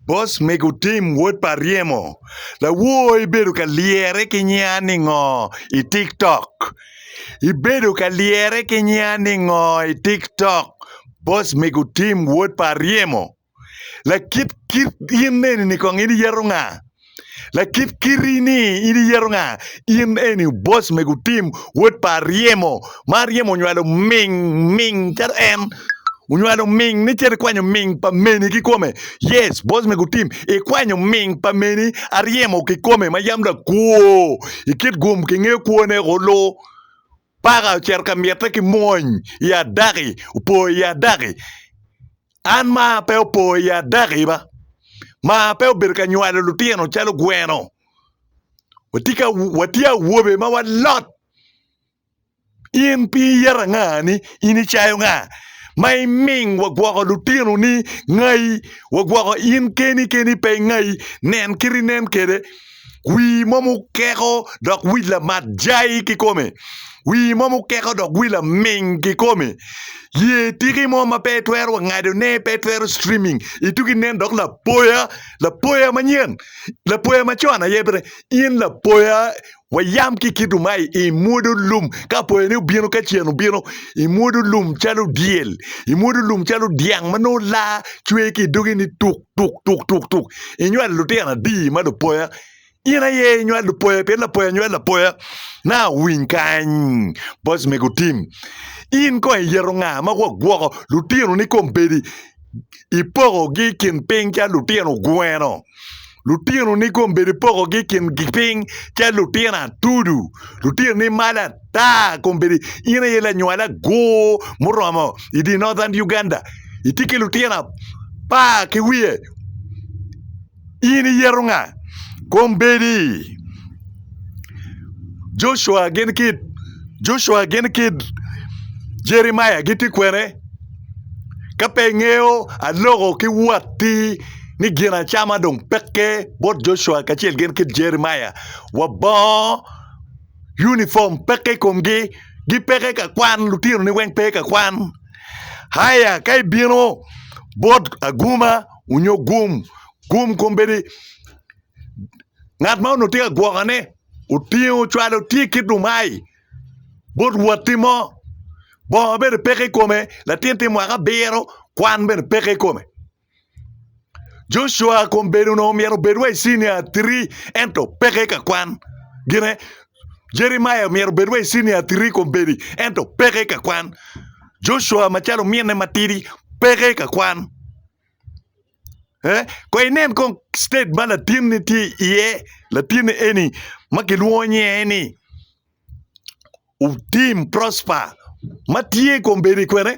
Bos mego Tim wod pa Ryemo, lawor ibedo ka lyere ki nyinga ningo i tiktok? Ibedo ka lyere ki nyinga ningo i tiktok? Bos mego Tim wod pa Ryemo, lakit kit in eni kong in iyeto nga? Lakit kiti ni in iyeto nga? In eni boss mego tim wod pa aryemo ma aryemo onywalo ming ming calo en onywalo ming ni cito ikwanyo ming pa meni kikome yes boss mego tim ikwanyo ming pa meni aryemo kikome ma yam lakwor ikit gum kingeyo kwone olu Paka ocito ka mitte ki mwony i adaki, opo i adaki. An ma pe opo i adaki ba, ma pe obedo ka nywalo lutino calo gweno, watye ka watye awobe ma walot. In piny iyeto anga ni in icayo nga ma iming wagwoko lutino ni ngayi wagwoko in keni keni pe ingayi nen kit inen kwede. Wii mo mukeko dok wic lamat jai kikome. Wii mo mukeko dok wii laming kikome. Ye tiki mo ma pe itwero wa ngado ne pe itwero streaming ituki nen dok lapoya lapoya manyen lapoya macon aye bene in lapoya wa yam ki kitu mai imwodo lum ka apoya ni obino ka cen obino imwodo lum calo dyel imwodo lum calo dyang manongo laa cwer ki doge ni tuk tuk tuk tuk tuk inywalo lutino adi ma lupoya in aye inywal lupoya pien lapoya nywal lapoya na winy kany boc me gutim in kong iyeto nga ma gwagwoko lutino ni kom bedi ipoko gi kin piny ca lutino gweno lutino ni kom bedi ipoko gi kin piny ca lutino atudu lutino ni mala Taa kombeddi in aye lanywal agur muromo i di Northern Uganda. Itye ki lutino apar ki wiye. In iyeto nga? Kombeddi Joshua gin kid Joshua gin kid Jeremiah gitye kwene? Ka pe ingeyo aloko ki watti ni gin acama dong peke bot Joshua kacel gin kid Jeremiah. Wabongo. unifom peke i komgi, gipeke ka kwan lutinoni weng pe ka kwan aya ka ibino bot aguma nyo gum, gum kombeddi ngat ma onongo tye ka gwokone otingo ocwalo tye ki dumai bot watti mo bongo bene peke i kome latin tye mwaka abiro kwan bene peke i kome. Joshua kun bedo onongo myero obed wa i cinia three ento peke ka kwan gine. Jeremiah myero obed wa i cinia three kun bedi ento peke ka kwan. Joshua macalo ominne matidi peke ka kwan. Eh, kong inen kong state ma latinni tye iye, latinni eni ma kilwongo nyinge ni Utim Prosper ma tye kun bedo i kwene.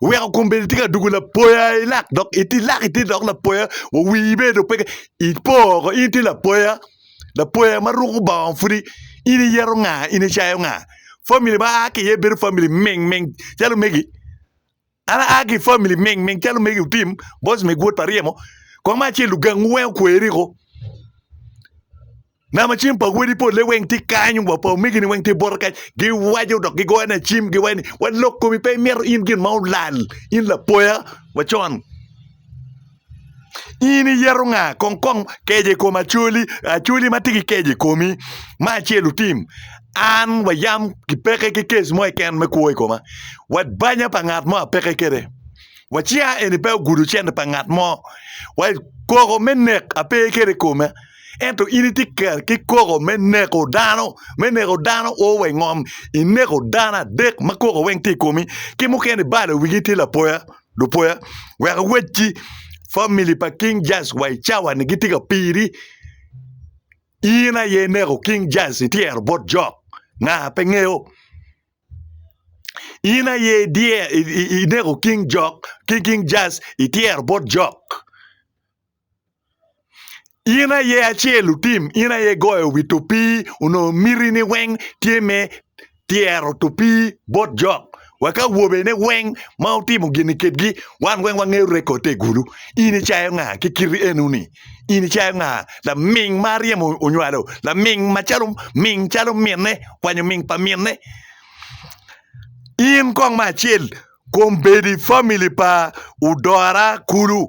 Weko kom bene tye ka dugo lapoya ilak dok ilak iti dok lapoya wa wii bene dong peke ipo woko in iti lapoya lapoya ma ruko bongo pudi in iyeto nga in icayo nga famili ma aa ki iye bedo famili ming ming calo megi an aa ki famili ming ming calo megi otim boss mego wod pa ryemo kong me acel lugangu weng okweri ko. Nama cim pa wodi polle weng tye kany, wa pa omegini weng tye bota kany. Giwaco dok gigoyo na cim, giwaco ni, Wa lok komi pe imito in gin ma olal, in lapoya wa con. In iyeto nga? Kong kong keje i kom acoli, acoli ma tye ki keje i komi, ma acel otim. An wa yam gipeke ki kes mo keken me kwo i koma. Wa banya pa ngat mo apeke kede. Wa cinga eni pe ogudo cente pa ngat mo. Wa koko me nek ape kede i koma. Ento in itye ker ki koko me neko dano, me neko dano o wa i ngom, ineko dano adek ma koko weng tye i komi, ki mukene ibalo wigi itye lapoya, lupoya, wek iwecci famili pa King Jairus wa i cawa-ni gitye ka piri. In aye ineko King Jairus ityero bot jok, nga pe ngeyo. In aye idye- i- i- ineko King Jok, King King Jairus ityero bot jok. In aye acel otim, in aye igoyo wi topii onongo mitini weng tye me tyero topii bot jok wa ki awobene weng ma wutimo gin-ni kedgi wan weng wangeyo rekotte i gulu in icayo nga ki kiti eno-ni? In icayo nga laming ma aryemo onywalo laming macalo ming calo minne kwanyo ming pa minne in kong me acel kombeddi famili pa odora kulu.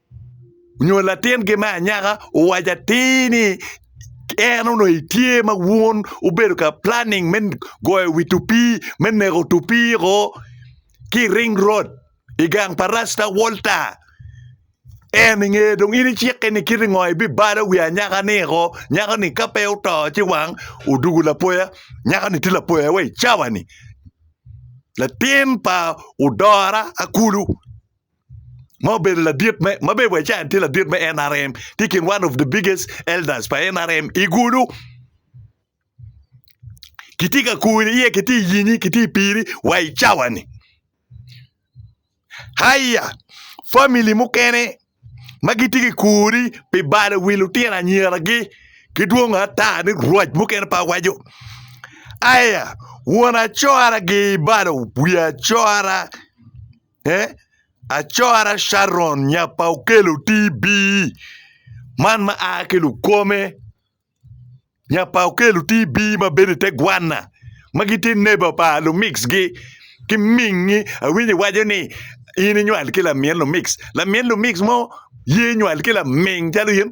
nyo latingi me anyaka owaco atir ni en onongo etye ma wun wubedo ka planing me goyo wi tupii me neko tupii o ki i ring road i gang pa Rasta Walta. En inge dong in icikke ni kiti ngo ibibalo wi anyaka-ni o nyako-ni ka pe oto ci wang odwogo lapoya nyako-ni tye lapoya wa i cawa-ni latin pa odora akulu. ma obedo ladit me ma bedo wa can tye ladit me NRM tye i kin one of the biggest elders pa NRM i gulu kitye ka kuri iye kitye i yinyi kitye i piri wa i cawani haya famili mukene ma gitye ki kuri pi balo wi lutino anyiragi ki dwongo ata ni rwac mukene pa waco aya won acora gi balo wi acora Eh, acora Sharon nya pa Okello TB, man ma a ki Lukome, nya pa Okello TB ma bedo i te gwanna, ma gitye neba pa Lumix-gi ki mingi. Awinyo iwaco ni in inywal ki lamin Lumix, lamin Lumix mo ye nywal ki laming calo in?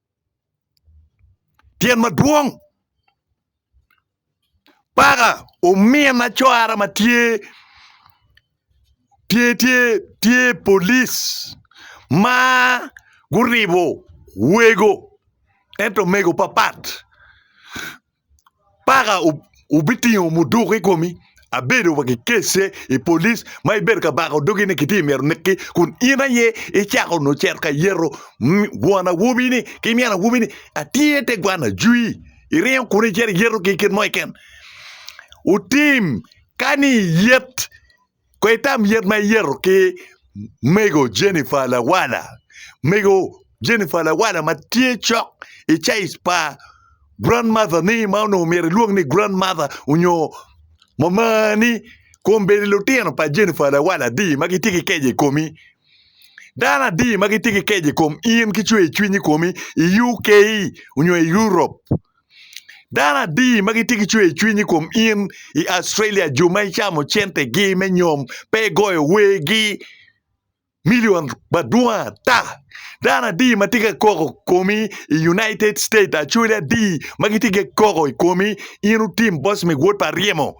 Tyen madwong paka omina cwara ma tye tye tye tye polic ma guribo wego ento omego papat paka wubitingo muduku i komi, abedo wa kikece i police ma ibedo ka bako dogi ni kitye myero oneki kun in aye icako onongo icito ka yeto won awobi ni ki min awobi ni atye te gwan ajwi iringo kunu icito iyeto ki kit mo keken, wutim kani iyet. Kong itam yet ma iyeto ki mego Jennifer Lawala. Mego Jennifer Lawala ma tye cok i caic pa Grand Mother ni ma onongo myero ilwong ni Grand Mother onyo mamani kun bene lutino pa Jennifer Lawala adi ma gitye ki keco i komi. Dano adi ma gitye ki keco i kom in ki cwer cwiny i komi i UK onyo i Europe. Dano adi ma gitye ki cwer cwiny i kom in i Australia, jo ma icamo centegi me nyom pe igoyo wergi milion madwong ata? Dano adi ma tye ka koko komi i United States, Australia adi ma gitye ka koko i komi in otim boss me wod pa Aryemo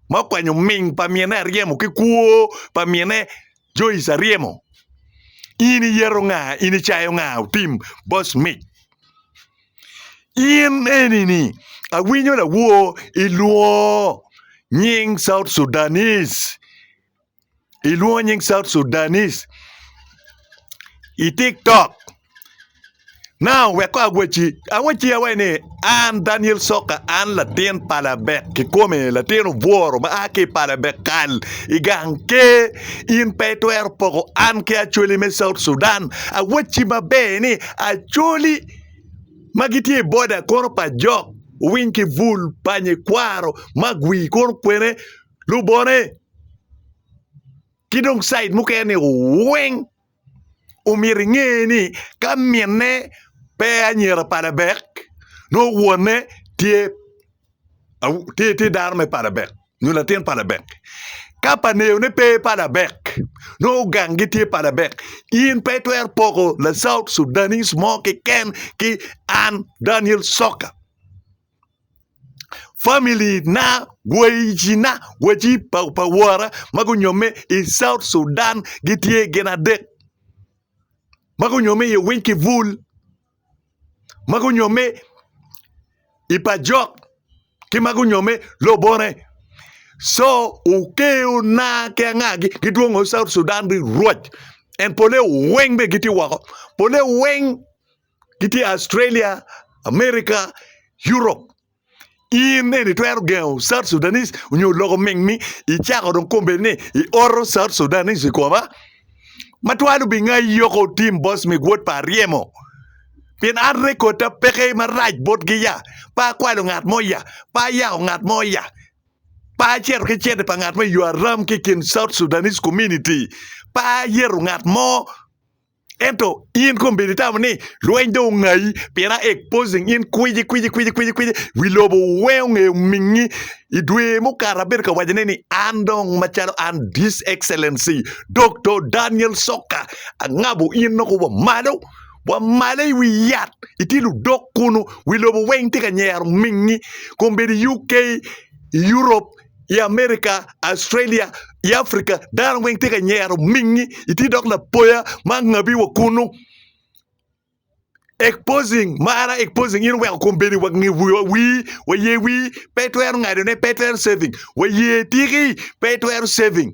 ma okwanyo ming pa mine Aryemo ki kwo pa mine Joice Aryemo? In iyeto nga? In icayo nga otim boss mic? In eni ni awinyo lawor ilwor nying South Sudanese ilwor nying South Sudanese i TikTok. Now wek ko awacci, awacci awaci ni an Daniel Soka an latin pa labek kikome latin obworo ma a ki i pa labek kal i gang ker in pe itwero poko an ki Acholi me South Sudan awacci maber ni Acholi ma gitye i boda kono pa jok owiny ki bul pa nyikwaro ma gwi kono kwene lubone ki dong cid mukene ni weng omyero inge ni ka minne pe anyira pa labek nongo wonne tye tye dano me pala dek nyo latin pala dek. Ka pa Neyone pe pala dek, nongo gang gitye pala dek. In pe itwero poko la South Sudanese mo keken ki an Daniel Soka. Family na, wacina, waci pa, pa wora ma gunyomme i South Sudan gitye gin adek ma gunyomme i Winkivul. ma gunyomme i pajok ki ma gunyomme lobone. Co okeona ki angagi gidwongo South Sudan ni rwot. En pole weng bene gitye woko. Pole weng gitye Australia, America, Europe. in eni itwero gengo South Sudanese onyo loko ming ni icako dong kombeddi ni i oro South Sudanese i koma ma twal obingayi yoko otim boss mi gwot pa aryemo pien an record ta peke ma rac bot gi ya pe akwalo ngat mo ya pe ayako ngat mo ya pe aceto ki cente pa ngat mo i yo aram ki kin South Sudanese community pe ayeto ngat mo Ento in kong bed itamo ni lweny dong ongayi pien a exposing in kwiji kwiji kwiji kwiji kwiji wi lobo weng ongeyo mingi i dwe mukato abedo ka wacone ni an dong macalo an this excellency Doktor Daniel Soka angabo in noko wa malo wa malo i wi yat itye ludok kunu wi lobo weng tye ka nyero mingi kong bed i UK i Europe i America, Australia, i Africa dano weng tye ka nyero mingi itye dok lapoya ma angabi wa kunu exposing mara exposing in oweko kom bedo iwa wii waye wii pe itwero ngado ne pe itwero saving waye tiki pe itwero saving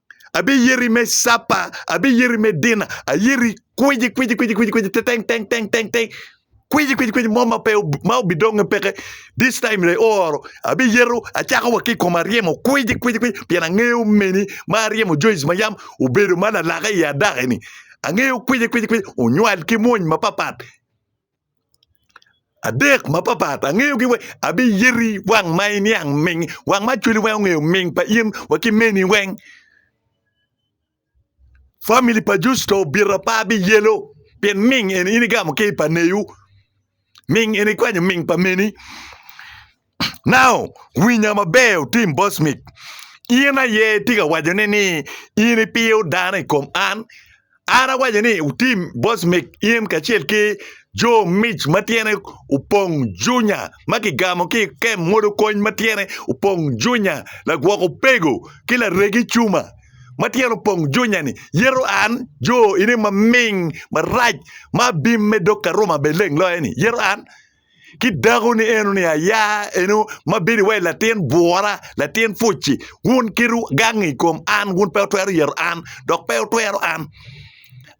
Abiyero i me capa, abiyero i me dina, ayero i kwici kwici kwici kwici kwici teteng teng teng teng teng kwici kwici kwici mo ma pe ma obidonge peke this time le ooro abiyero acako wa ki kom aryemo kwici kwici kwici pien angeyo meni ma aryemo Joyce ma yam obedo ma lalaka i adaki ni angeyo kwici kwici kwici onywal ki mwony mapapat adek mapapat angeyogi weng abiyeti wang ma iniang ming wang ma cwali weng ongeyo ming pa in wa ki meni weng famili pa Justo obito apa biyelo pien ming eni in igamo ki i pa newu ming en ikwanyo ming pa meni Now, winya maber, otim Bosmik. In aye itye ka wacone ni in ipiyo dano i kom an? An awaco ni, otim Bosmik, in kacel ki jo mic ma tyene opong junya ma kigamo ki i kem modo kony ma tyene opong junya, lagwok opego ki laregi cuma ma tyene opong junya-ni, yeto an, jo ine maming, marac, ma abim me dog ka Ruma bene leng loye-ni, yeto an. ki dako ni eno ni aya eno ma bedo iwaci latin bwora latin puci wun keto gang i kom an wun pe wutwero yero an dok pe wutwero an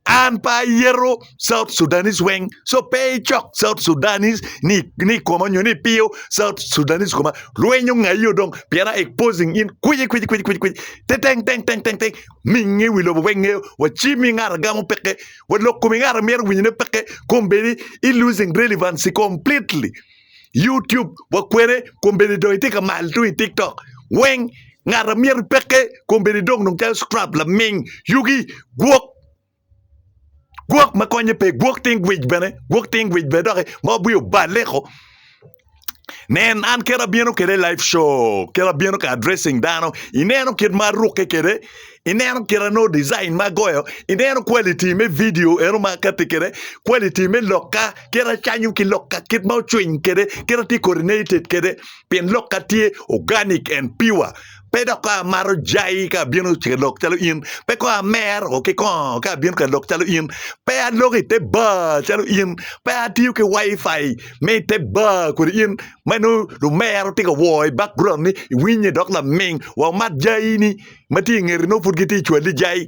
an pe ayero south sudanis weng so pe icok south sudanis ni ni i koma nyo ni ipiyo south sudanis i koma lweny ongaio dong pien a exposing in kwici kwici kwici kwici kwici teteng teng teng teng teng minge wi lobo weng ngeo wacimi ngat agamo peke wa lok kom ingat amyero winyo ne peke kom bedi i losing relevancy completely YouTube wa kwene kom bedi dong itye ka mal tung i TikTok weng ngat amyero peke kom bedi dong dong calo scrap laming yugi gwok gwok ma konye pe gwok ting gwij bene gwok ting gwij bene doki ma obwi obaleko Nen, an kit abino kede live show, kit abino ka addressing dano, ineno kit ma arukke kede, ineno kit anongo design ma agoyo, ineno quality me video eno ma akati kede, quality me lokka, kit acanyo ki lokka, kit ma ocwiny kede, kit atye coordinated kede, pien lokka tye organic and pure. Pe dok ka amato jai ka abino ka lok calo in, pe kong amero ki kongo ka abino ka lok calo in, pe aloko i te bar calo in, pe atiyo ki Wi-Fi me i te bar kwede in, ma nongo lumero tye ka wor i background ni iwinye dok laming wa omat jai-ni ma tye i ngeti nongo pud gitye ka cwali jai.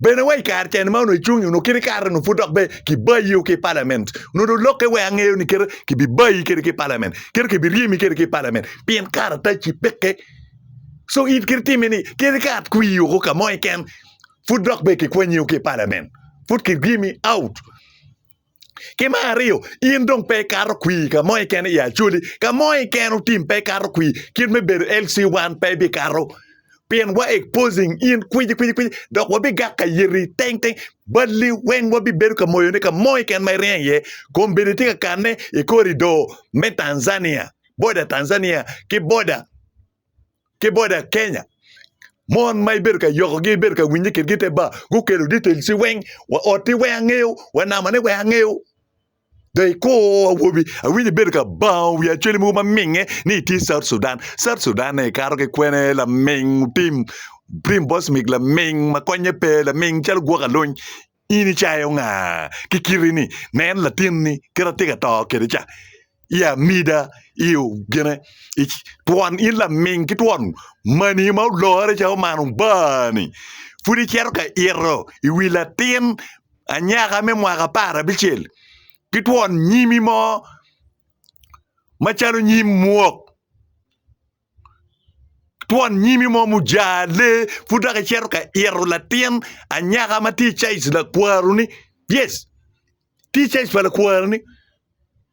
Bene wa i kare cen ma onongo icung onongo kit ikare onongo pud dok bene kibayi o ki i palament. Onongo dong lokke wek angeyo ni kite kibibayi kede ki i palament. Kite kibiryemi kede ki i palament pien karatacci peke. So in kit itime ni kit ikat kwii oko ka mo keken pud dok bene kikwanyi o ki i palament. Pud kiryemi out. Ki me aryo, in dong pe ikato kwir ka mo keken i Acholi. Ka mo keken otim pe ikato kwir, kit me bedo LC wan pe ibikato. Pien wa exposing in kwici kwici kwici dok wabigak ka yeti teng teng. Balli weng wabibedo ka moyone ka mo keken ma iryeng iye. Kombeddi tye ka kanne i koridor me Tanzania, boda Tanzania ki boda ki boda Kenya mon ma ibedo ka yokogi ibedo ka winye kitgi te ba gukelo details weng wa otti weng angeyo wa namane weng angeyo they call awobi awinyo ibedo ka bango wi acwali mogo ma minge ni itye South Sudan South Sudan ne ikato ki kwene laming tim tim bosmik laming ma konye pe laming calo gwok aluny In icayo nga ki kiti-ni? Nen, latinni kit atika to kede ca, i amida, i ogine, i twon, in laming ki twon mani ma olore ca omano baa-ni, pud icito ka ito i wi latin anyaka me mwaka apar abicel ki twon nyimi mo macalo nyim mwok? twon nyimi mo ma ojar lee pud dok icito ka ito latin anyaka ma tye i caic lakwaruni yes tye i caic pa lakwaruni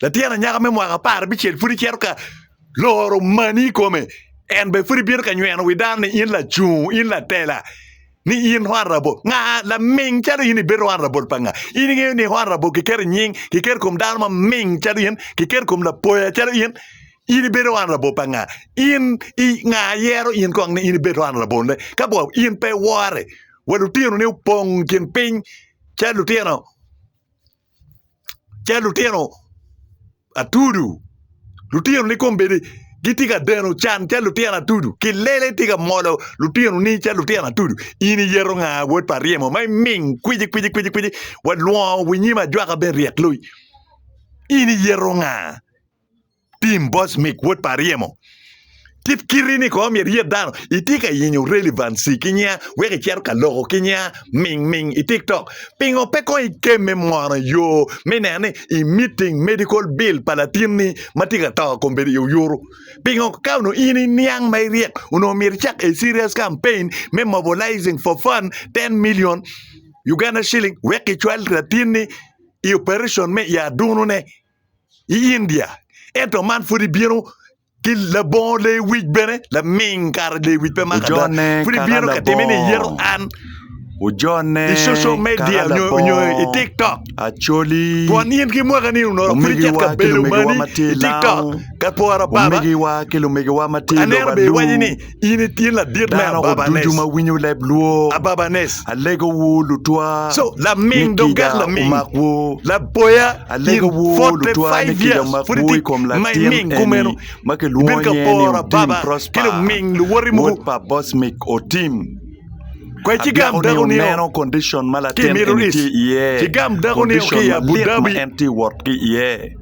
latin anyaka me mwaka apar abicel pud icito ka loro mani i kome en bene pud ibino ka nyweno wi dano ni in lacungo in latela ni in honorable nga laming calo in ibedo honorable pa nga in ingeyo ni honorable kiketo i nying kiketo i kom dano maming calo in kiketo i kom lapoya calo in In ibedo wan labor pa nga? In i nga yero in kong ni in ibed wan laborne? Ka bo in pe wore wa lutino ni opong kin piny ca lutino ca lutino atudu lutino ni kombedi gitye ka deno can ca lutino atudu ki lele tye ka molo lutino ni ca lutino atudu in iyeto nga wod pa ryemo ma iming kwiji kwiji kwiji kwiji wa lwongo winyim ajwaka ben ryek loyi in iyeto nga? Tim Bosmick, wod pa ryemo. Kit kiti ni kong myero iyet dano. Itye ka yenyo relevancy ki nya wek icito ka loko ki nya ming ming i TikTok. Pingo pe kong ikemme mono i yo me neno ni i meeting medical bill pa latin ni ma tye ka to kong bedo i oyuru? Pingo ka onongo in i niang ma iryek onongo myero icak a serious campaign me mobilizing for fund ten million Uganda shilling wek kicwal latin ni i operation me i adunu ne? i India, ento man pud ibino ki labongo lee wic bene laming kara lee wic pe maka da pud ibino ka time ni iyero an ojone i social media nyo nyo i tiktok acoli twon in ki mwaka ni onongo pud icit ka belo mani i tiktok ka pora baba omigiwa ki lumigiwa ma tye i lobo aducu In i tin ladit me ababanes. Dano ma winyo leb lwor. Ababanes. Alego wu lutwa. So, laming dogak laming. Umak wu. Laboya. Alego wu lutwa ni ki da mak wu i kom latin eni ma ki lwongo nyinge ni Otim Prosper. Wod pa Bosmic Otim. Abyako ni wuneno condition ma latin eni tye iye. Condition malit ma en tye wot ki iye.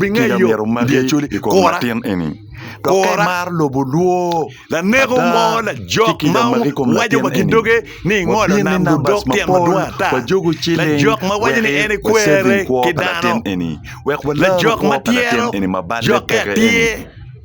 Tika myero omaki i kom latin eni dok ka imaro lobo lwor ada ci kica omaki i kom latin eni? Wabin ni numbers mapol wajogo ciling wek me saving kwo pa latin eni wek walaro kwo pa latin eni ma balle peke-ni.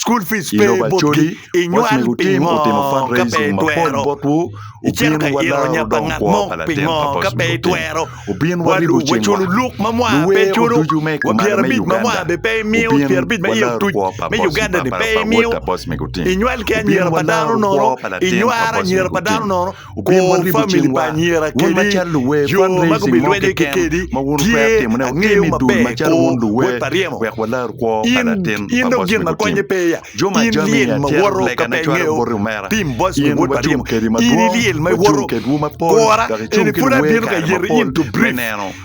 School fees pe botgi inywal pingo ka pe itwero icito ka ito onya pa ngat mo pingo ka pe itwero walubo waculo luk ma mwa pe iculo wa pyera abic ma mwa bene pe imiyo pyera abic ma iye otuc me Uganda ni pe imiyo inywal ki anyira pa dano nono inywaro anyira pa dano nono Kor famili pa anyira kadi jo ma gubido lwedde kekedi tye angeyo maber kor wod pa ryemo. In dong gin ma konye pe ya, in lyel ma woto ka pe ingeyo tim Boswick wod pa ryemo, in ilyel ma iwoto kora eni pud abino ka yero in to brief.